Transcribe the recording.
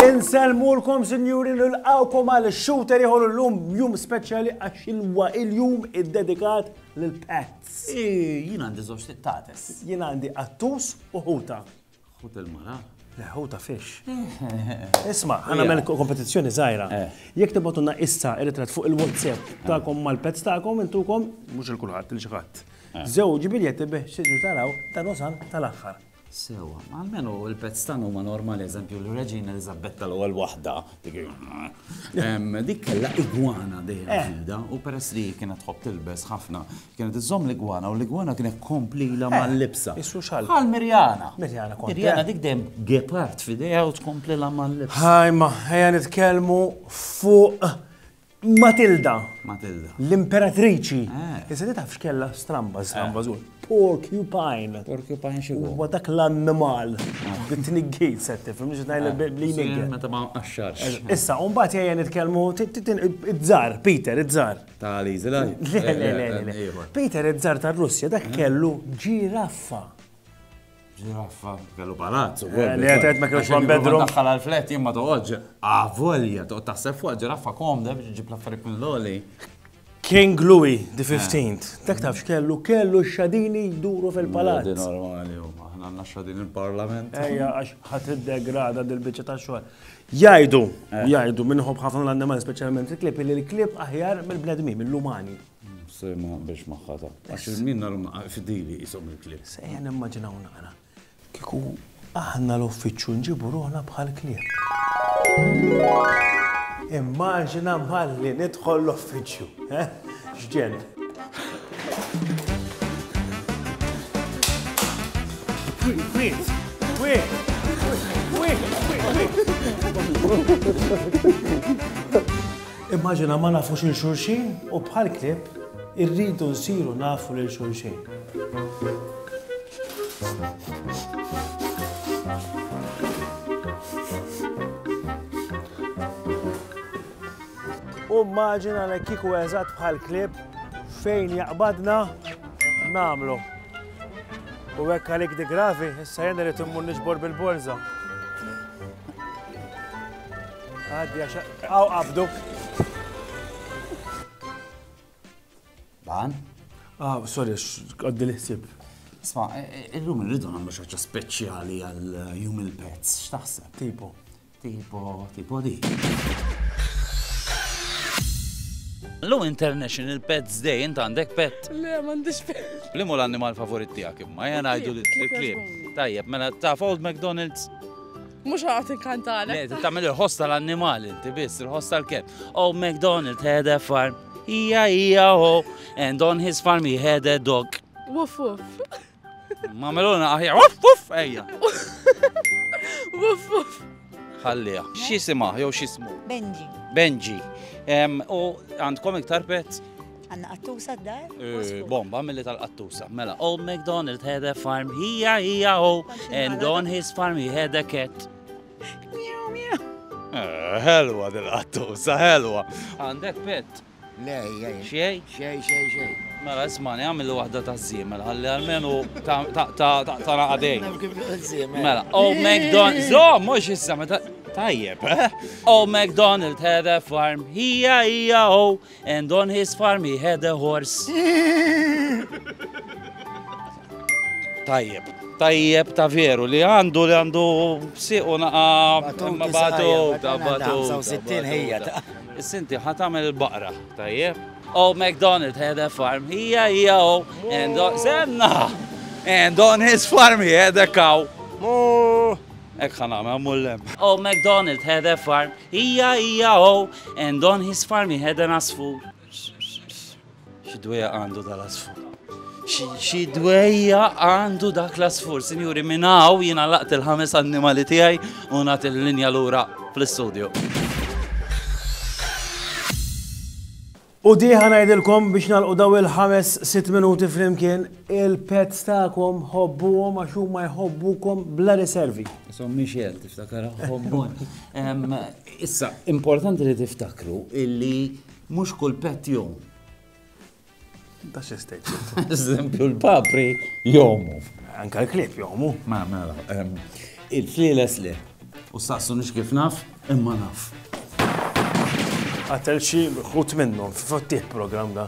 Inselmulkom sinjuri nilqawkom għal shooter ieħor illum jum speċjali għax ilwa il-jum iddedikat lil pets. Jien għandi żewġ tittates. Jien għandi qattus u ħuta. Ħut il-mara? Le, ħuta fix. Isma', ħa nagħmel kompetizzjoni żgħira. Eh. Jekk tibgħatulna issa ir-ritratt fuq il-WhatsApp eh. tagħkom mal-pezz tagħkom intukom, mhux il kulħadd il xi ħadd. Eh. Żewġ biljetti bih xieġu taraw dan usan tal-aħħar. Sewa, għalmenu il-pezz tagħna huma normali, eżempju, l-Reġina Elizabeth tal-ewwel waħda, dik kellha igwana dejjem eh. ġilda u peress li kienet tħobb tilbes ħafna Kienet iżżomm l-igwana u l-igwana kienet tkomplilha mal-libsa. Eh, issu xalk. Bħal Mirjana. Mirjana kont. Mirjana dik dejjem gepard f'idejha u tkomplilha mal-libsa. Ħajma, ejja nitkellmu fuq Matilda. Matilda. L-imperatriċi. Eh. Issa ti tafx kellha stramba, stramba żgur. Eh. Porcupine. Porcupine xi huwa dak l-annimal. Bit-tniggit ah. se tifhem mhux ngħidlek eh. bli nigger. Meta ma qaxxarx. Issa, u mbagħad jgħajja nitkellmu it-żar, Peter, it-żar. Ta' Li Zilaj? Le, le, le, le. Peter Ezzar ta' Russja dak kellu ġiraffa. Ġiraffa, kellu palazzu. Eh, li għetet ma kellux one bedroom. Daħħal għal-flet jimma toqgħodġ. Avolja, ah, toqgħod taħseb fuq ġiraffa komda biex ġib l-affarijiet minn l-oli. King Louis the 15th, eh. dak tafx kellu kellu xadini jduru fil-palazz. Di normali, aħna għandna xadini il-parlament. Ejja, għax ħadd iddegrada dil-biċċa ta' xogħol. Jgħidu, u jgħidu minn ħobb ħafna l-annimali, speċjalment il-klib, li l-klib aħjar mill-bnedmin, mill-umani. Se ma biex maħħata. Għax il-min narum fidili jisom il-klib. Se jgħan immaġinaw naqra. Kiku aħna l-uffiċċju nġibu ruħna bħal klib. Immaġina bħalli nidħol l-uffiċċju. Xġen. Immaġina ma nafux il xulxin u bħal klib irridu nsiru nafu lil xulxin. U mmaġina li kieku eżatt bħal klieb fejn jaqbadna nagħmlu. U hekk għalik di gravi, issa jien irid immur niġbor bil-borża. Għaddi għax għaw qabdu. Ban? Ah, sorry, għaddi li ħsib. Sma, e, e, illum irridu nagħmlu xi ħaġa speċjali għal jum il-pezz, x'taħseb? Tipo. Tipo, tipo di. L-lum International Pets Day, int għandek pet? Le, m'għandix pet. Li mu l-annimal favorit tiegħek imma, jena għajdu li t-klib. Tajjeb, mela taf Old McDonald's? Mux għat inkantana. Le, t-tamil il-ħoss tal-annimal, inti biss, il-ħoss tal-ket. Old McDonald had a farm, ija ija ho, and on his farm he had a dog. Wuff, wuff. Ma meluna aħja, uff, uff, ejja. Uff, uff. Ħallija. Xisima, jew xismu? Benji. Benji. U għandkom iktar pet? Għanna qattusa d-dar? Eh, bomba mill tal-qattusa. Mela, Old McDonald had a farm, hija, hija, oh, and on his farm he had a cat. Miu, miu. Eh, helwa dil-qattusa, helwa. Għandek pet? Le, jgħin. Xej? Xej, xej, xej. Mela, ismani, għamil wahda ta' zimel, għalli għalmenu ta' naqadej. Mela, o oh, McDonald, zo, mux issa, meta. Tajjeb, eh? O oh, McDonald had a farm, hija hija o, oh, and on his farm he had a horse. Tajjeb, tajjeb ta' veru li għandu li għandu siqu naqa ma batu ta' batu. 65 ħija ta' Sinti ħat għamel il-baqra, tajjeb. Oh, McDonald had a farm, hija hija oh, and on, senna! And on his farm he had a cow. Mu! Ek ħan għamel mullem. Oh, McDonald had a farm, hija hija oh, and on his farm he had an asfur. Xidweja għandu dal-asfur. Xidweja għandu dak l-asfur, sinjuri, minn hawn jiena laqt il-ħames annimali tiegħi u nagħti l-linja lura fl-istudju. U diħa najdilkom biex nalqu daw il-ħames sitt minuti flimkien il-pets ta'kom hobbuhom għax huma jħobbukom bla riservi. So Michel tiftakar hobbon. Issa, importanti li tiftakru illi Mhux kull pet jom. Ta' xi state. Eżempju l-papri jomu. Anka l-klieb jomu. Ma mela. Il-flieles le. U saqsu nix kif naf, imma naf. Għatel xi ħut minnhom f'tih program da.